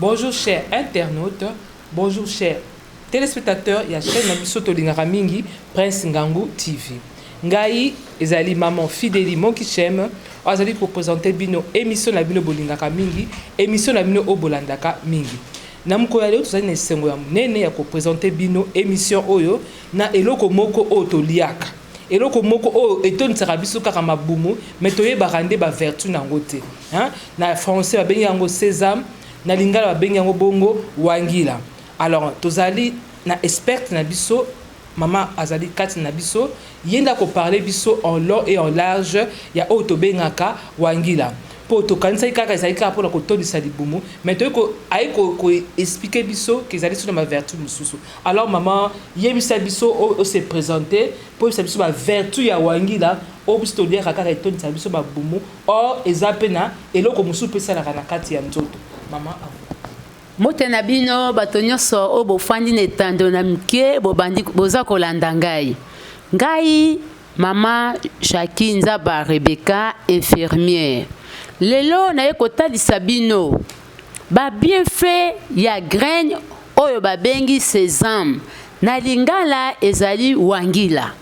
Bonjour chers internautes, bonjour chers téléspectateurs ya chaîne na biso tolingaka mingi Prince Ngangu TV. Ngai ezali maman Fideli Monkichem oyo azali kopresente bino émission na bino bolingaka mingi, émission na bino oyo bolandaka mingi. Na mokolo ya lelo tozali na esengo ya monene ya ko presenter bino emission oyo na eloko moko oyo toliaka, eloko moko oyo etondisaka biso kaka mabumu mais toyebaka nde ba vertus na yango te hein. Na français babengi yango sesame, na lingala babengi yango bongo wangila. Alors tozali na experte na biso Mama azali kati na biso, ye nde ako parler biso en long et en large ya oyo tobengaka wangila. Po tokanisaki kaka ezali kaka pona kotondisa libumu, mais toye ko aye ko ko expliquer biso que ezali sur na ba vertus mosusu. Alors mama yebisa biso o o se presenter po oyebisa biso ba vertus ya wangila oyo biso toliaka kaka etondisaka biso ba bumu or eza pe na eloko mosusu pe esalaka na kati ya nzoto. Mama à vous. Mbote na bino bato nyonso oyo bofandi na etando na mike bobandi boza kolanda ngai ngai mama jaki nzaba rebeka infirmiere lelo naye kotalisa bino babienfait ya graine oyo babengi sesame na lingala ezali wangila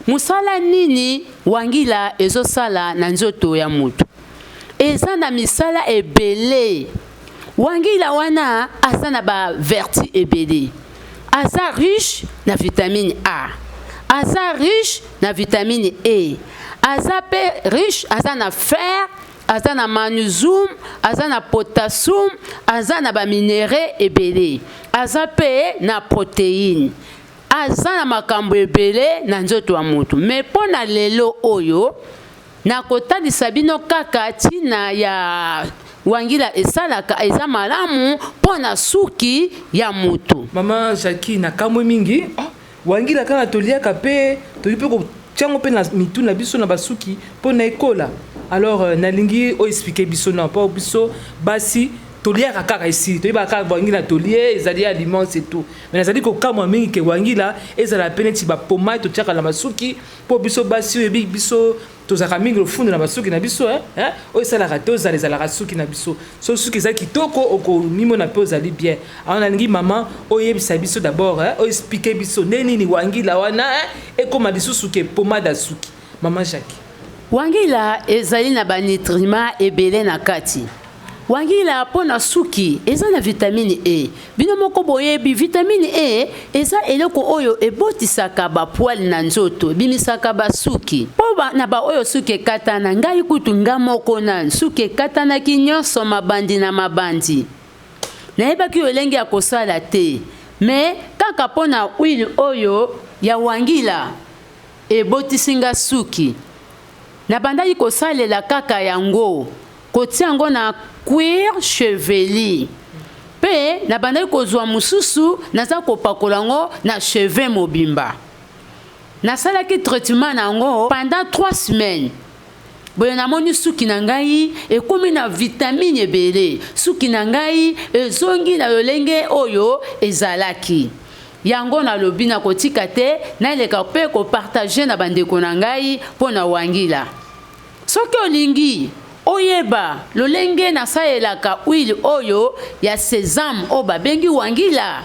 Mosala nini wangila ezosala na nzoto ya moto? Eza na misala ebele. Wangila wana aza na ba vertu ebele. Aza riche na vitamine A. Aza riche na vitamine E. Aza pe riche, aza na fer, aza na magnesium, aza na potassium, aza na ba minerais ebele. Aza pe na proteine. Aza na makambo ebele na nzoto ya moto, mais mpo na lelo oyo nakotalisa bino kaka ntina ya wangila esalaka eza malamu mpo na suki ya moto. Mama Jackie, nakamwe mingi ah, wangila kaka toliaka mpe toki mpe kotia yango mpe na mitu na biso na basuki mpo na ekola alors euh, nalingi o expliquer biso na mpo biso basi toliaka kaka esi toyebaka kaka bwangila tolie ezali aliments et tout Mais nazali kokamwa mingi ke wangila ezala pe neti ba pomade totiaka na masuki mpo biso basi oyebi biso tozalaka mingi lofundo na basuki na biso eh, eh, oyo esalaka te ozala ezalaka suki na biso so suki eza kitoko okomimona mpe ozali bien awa nalingi mama oyebisa biso d'abord eh, oexplike biso nde nini wangila wana ekóma lisusu ke pomade ya suki Maman Jackie. Wangila ezali na ba nitrima ebele na kati. Wangila mpo na suki eza na vitamini E. Bino moko boyebi vitamini E eza eloko oyo ebotisaka ba poil na nzoto, ebimisaka ba suki. Mpo ba, na ba oyo suki ekatana, ngai kutu nga moko na suki ekatanaki nyonso mabandi na mabandi. Nayebaki lolenge ya kosala te, mais kaka mpo na huile oyo ya wangila. Ebotisi nga suki. Na bandaki ko salela kaka yango, ko tia yango na cuir chevelu. Pe na bandaki ko zua mususu naza ko pakola yango na cheveux mobimba. Na salaki traitement na yango pendant trois semaines. Boye na moni suki na ngai ekomi na vitamine ebele, suki na ngai ezongi na lolenge oyo ezalaki. Yango nalobi nakotika te naleka mpe kopartage na bandeko na ngai mpo na wangila. Soki olingi oyeba lolenge nasalelaka huile oyo ya sesame oyo babengi wangila,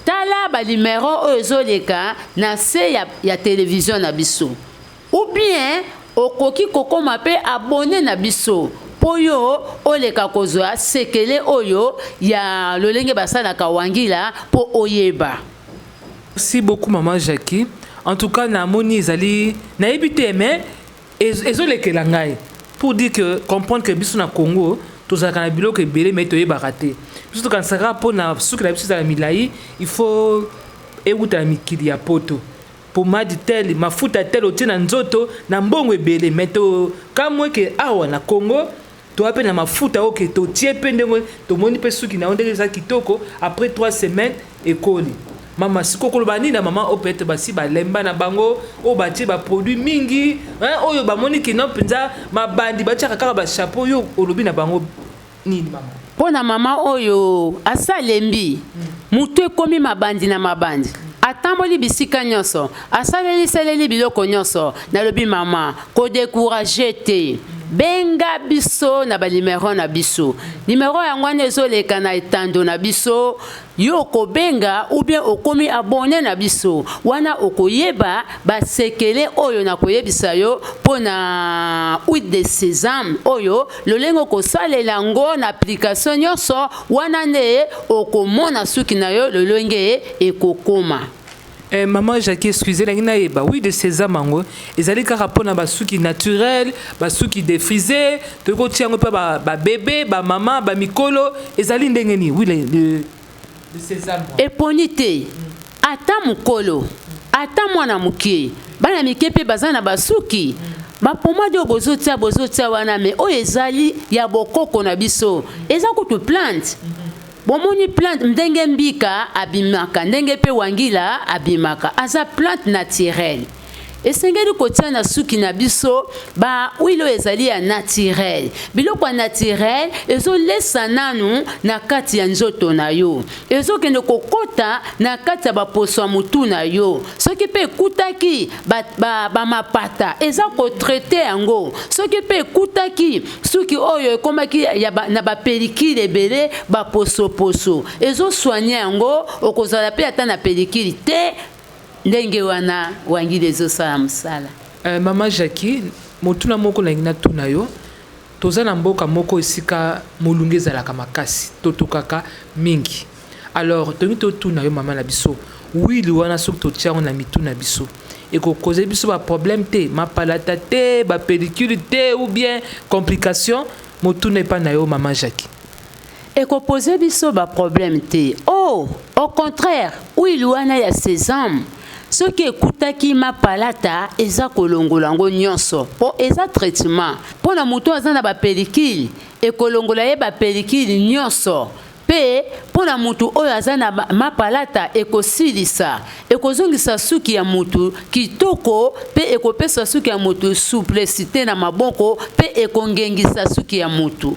tala balimero oyo ezoleka na se ya, ya televizio na biso. Ou bien okoki kokoma pe abonne na biso po yo oleka kozwa sekele oyo ya lolenge basalaka wangila po oyeba. Merci beaucoup maman Jackie en tout cas na moni ezali nayebi te mais ezo lekela ngai pour dire que comprendre que biso na Congo tozalaka na biloko ebele mais toyebaka te biso tokanisaka mpo na suki na biso ezala milai il faut ewuta na mikili ya poto pomade tel mafuta tel otie na nzoto na mbongo ebele me tokamwe ke awa na congo toa mpe na mafuta oyo ke totie mpe ndenge tomoni mpe suki na yo ndenge eza kitoko après 3 semaines ekoli mama siko koloba nini na mama oyo peut-être basi balemba na bango oyo batie baproduit mingi oyo bamoni kino mpenza mabandi batiaka kaka bachapeau yo olobi na bango Nini mama? Mpo na mama oyo asalembi, motu ekomi mabandi na mabandi. Atamboli bisika nyonso, asaleli saleli biloko nyonso. Nalobi mama, ko decourager te. Benga biso na ba numero na biso. Numero yango wana ezoleka na etando na biso. Yo okobenga ou bien okomi abonne na biso wana okoyeba ba sekele oyo na koyebisa yo mpo na huile de sesame oyo lolenge okosalela yango na application nyonso wana nde okomona suki na yo lolenge ekokoma. Eh, maman Jackie, excusez, la ngina yeba. Oui, de ces amango. Ils allaient car apprendre ba souki naturel, ba souki défrisé, de ko tiango pa ba, ba bébé, ba maman, ba mikolo. Ils allaient ndengeni. Oui, le, le, de ces amango. Et ponité. Ata mukolo. Ata mwana mukie. Bana mike pe bazana ba souki. Mm. bapomade oyo bozotia bozotia wana me oyo ezali ya bokoko na biso eza kutu plante Bomoni plante ndenge mbika abimaka ndenge pe wangila abimaka aza plante naturelle. Esengeli kotia na suki na biso ba huile oyo ezali ya naturel. Biloko ya naturel ezolesa nanu na kati ya nzoto na yo, ezokende kokota na kati ya baposo ya motu na yo. Soki mpe ekutaki bamapata ba, ba eza kotraite yango, soki mpe ekutaki suki oyo ekomaki ya ba, na bapelikile ebele baposoposo ezoswanye yango okozala mpe ata na pelikile te ndenge wana wangili ezosala mosala uh, mama jacqui motuna moko nalingi natuna yo toza na mboka moko esika molunge ezalaka makasi totokaka mingi Alors tolingi totuna yo mama na biso, wili wana soki totia yango na mitu na biso ekokoze biso ba problème te, mapalata te, ba pellicule te ou bien complication? Motuna epa na yo mama Jackie. Ekopoze biso ba problème te. Oh, au contraire, wili wana ya sesame soki ekutaki mapalata eza kolongola yango nyonso po eza traitement po na moto aza na ba pellicule ekolongola ye ba pellicule nyonso Mpe mpo na moto oyo aza na mapalata, ekosilisa, ekozongisa suki ya moto kitoko, mpe ekopesa suki ya moto souplesite na maboko, mpe ekongengisa suki ya moto.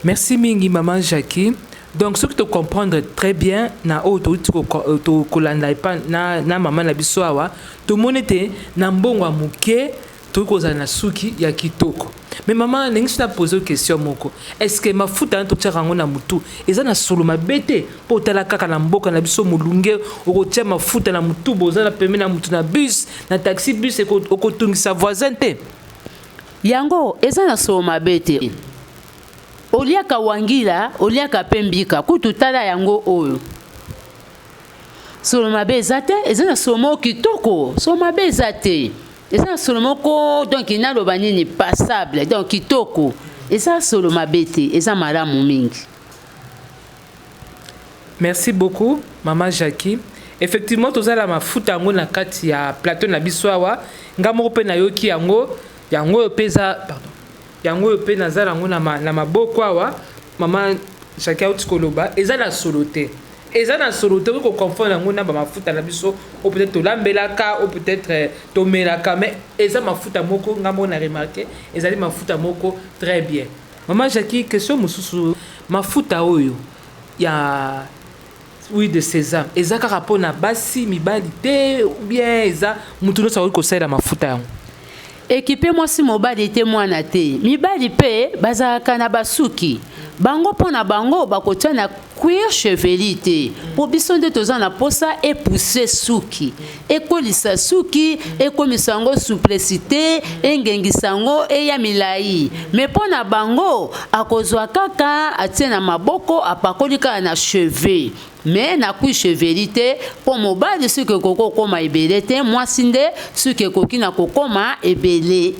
Merci mingi maman Jackie. Donc soki to comprendre très bien na oyo touti kolanda epa na, na mama na biso awa tomoni ete na mbongo ya moke Tokoki kozala na suki ya kitoko. Mais maman, nalingi soki na poser question moko. Est-ce que mafuta wana totiaka yango na mutu eza na solo mabe te? Po tala kaka na mboka na biso mulunge okotia mafuta na mutu boza na pembeni na mutu na bus, na taxi bus okotungisa voisin te? Yango eza na solo mabe te. Oliaka wangila, oliaka pe mbika. Kutu tala yango oyo. solo mabe eza te eza na solo moko kitoko solo mabe eza te eza na solo moko donk naloba nini passable donk kitoko eza solo mabe te eza malamu mingi merci beaucoup mama jacqui effectivement tozala mafuta yango na kati ya plateau na biso awa nga moko mpe nayoki yango yango oyo mpe eza pardon Yango oyo pe naza nango na maboko awa mama Jacquie awuti koloba eza na solo te eza na solo te okoki ko confondre yango na ba mafuta na biso ou peut-être tolambelaka ou peut-être euh, tomelaka mais eza mafuta moko nga moko na remarquer ezali mafuta moko très bien mama Jacquie question mosusu mafuta oyo ya Oui de sesame eza kaka pona basi mibali te ou bien eza mutu nionso akoki kosalela mafuta yango? Ekipe mwasi mobali te mwana te mibali pe bazalaka na basuki bango mpo na bango bakotia na cuir chevelu te mpo biso nde toza na mposa epousse suki ekolisa suki ekomisa yango souplicité engengisa yango eya milai me mpo na bango akozwa kaka atie na maboko apakoli kaka na cheveux me nakui cheveli te mpo mobali suki ekoki kokoma ebele te mwasi nde suki ekoki na kokoma ebele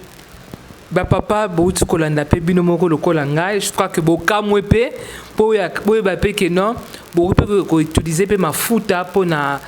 bapapa bouti kolanda mpe bino moko lokola ngai je crois ke bokamwe mpe mpo boyeba mpe ke non bokoki mpe koutilize mpe mafuta mpo na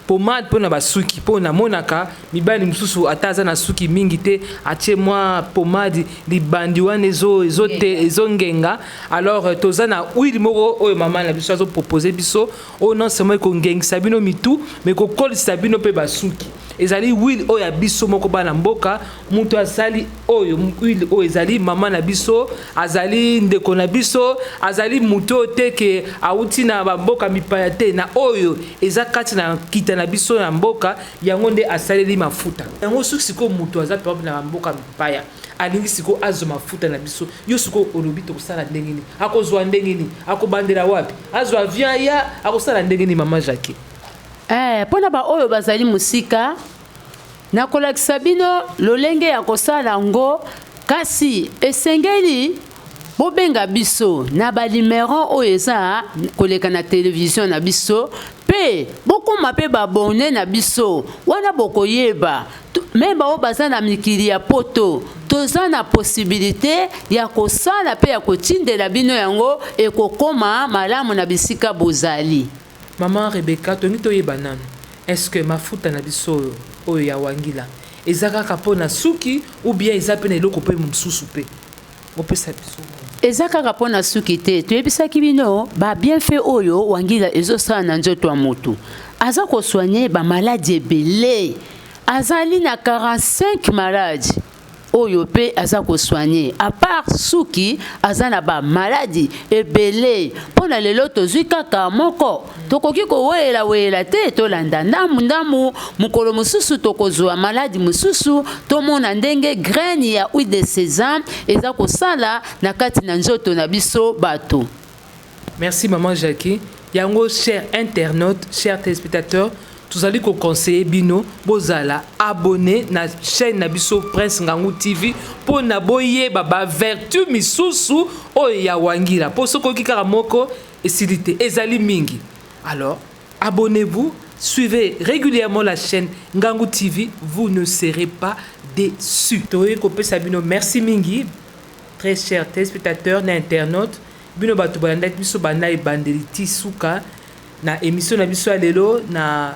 Pommade pona ba suki po na monaka mibali mususu ata aza na suki mingi te atie mwa pommade libandi wana ezo ezo te ezo ngenga alors euh, toza na huile moko oyo mama na biso azo proposer biso oyo non seulement eko ngengisa bino mitu mais ko kolisa bino pe ba suki ezali huile oyo ya biso moko bana mboka moto asali oyo huile oyo ezali mama na biso azali ndeko na biso azali moto oyo te ke awuti na bamboka mipaya te na oyo eza kati na kita na biso na mboka yango nde asaleli mafuta yango soki sikoyo moto aza pape na bamboka mipaya alingi sikoyo azwa mafuta na biso yo sikoyo olobi tokosala ndenge nini akozwa ndenge nini akobandela wapi azwa avion aya akosala ndenge nini mama jacquet eh, mpo na baoyo bazali mosika Nakolakisa bino lolenge ya kosala yango, kasi esengeli bobenga biso na ba numero oyo eza koleka na televizio na biso mpe bokoma mpe babone na biso wana bokoyeba me baoyo baza na mikili ya poto toza na posibilite ya kosala mpe ya kotindela bino yango ekokoma malamu na bisika bozali Maman Rebecca tongi toyeba nanu est ce que mafuta na biso oyo oyo ya wangila eza kaka po na suki ou bien eza pe na eloko pe mosusu pe opesa biso maman. Eza kaka po na suki te toyebisaki bino ba bienfait oyo wangila ezo sala na nzoto ya mutu aza ko soigner ba maladi ebele azali na 45 maladi. oyo pe aza ko soigne apart suki aza na ba maladi ebele mpo na lelo tozwi kaka moko tokoki koweyela weyela te tolanda ndambu ndambu mokolo mosusu tokozwa maladi mosusu tomona ndenge graine ya huile de sesame eza kosala na kati na nzoto na biso bato Merci maman Jackie. Yango cher internaute, cher téléspectateur, tozali ko conseiller bino bozala abonné na chaîne na biso Prince Ngangu TV mpo na boyeba ba vertu misusu oyo ya wangila mpo soki oyoki kaka moko esili te ezali mingi alors abonnez-vous suivez régulièrement la chaîne Ngangu TV vous ne serez pas déçus toyei kopesa bino merci mingi Très chers telespectateurs na internautes, bino batu balandaki biso banda ebandeli ti suka na emission na biso ya lelo na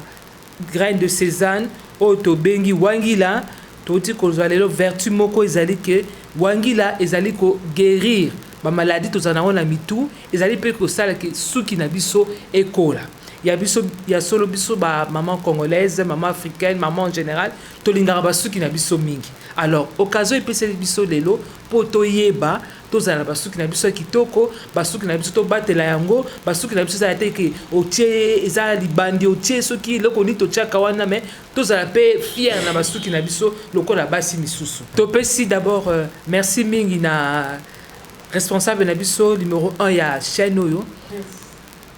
graine de Cézanne oyo tobengi wangila toti kozwa lelo vertu moko ezali ke wangila ezali ko guérir ba maladie tozala nango na mitu ezali mpe kosala ke suki na biso ekola ya biso ya solo biso ba maman congolaise maman africaine maman en général Tolingaka basuki na biso mingi alors occasion epeseli biso lelo mpo toyeba tozala na basuki na biso ya kitoko, basuki na biso tobatela yango, basuki na biso ezala te ke otie eza libandi otie soki eloko nini totiaka wana, me tozala mpe fiere na basuki na biso lokola basi misusu. Topesi d'abord euh, merci mingi na responsable na biso numero 1 ya chaîne oyo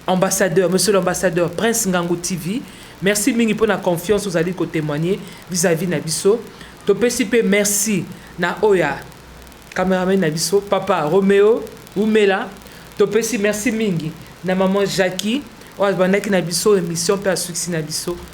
Ambassadeur, monsieur l'ambassadeur Prince Ngangu TV, merci mingi mpo na confiance ozali ko témoigner vis-à-vis na biso. Topesi mpe merci na oya cameraman na biso papa Romeo Umela. Topesi merci mingi na maman Jackie oyo abandaki na biso emission mpe asuksi na biso.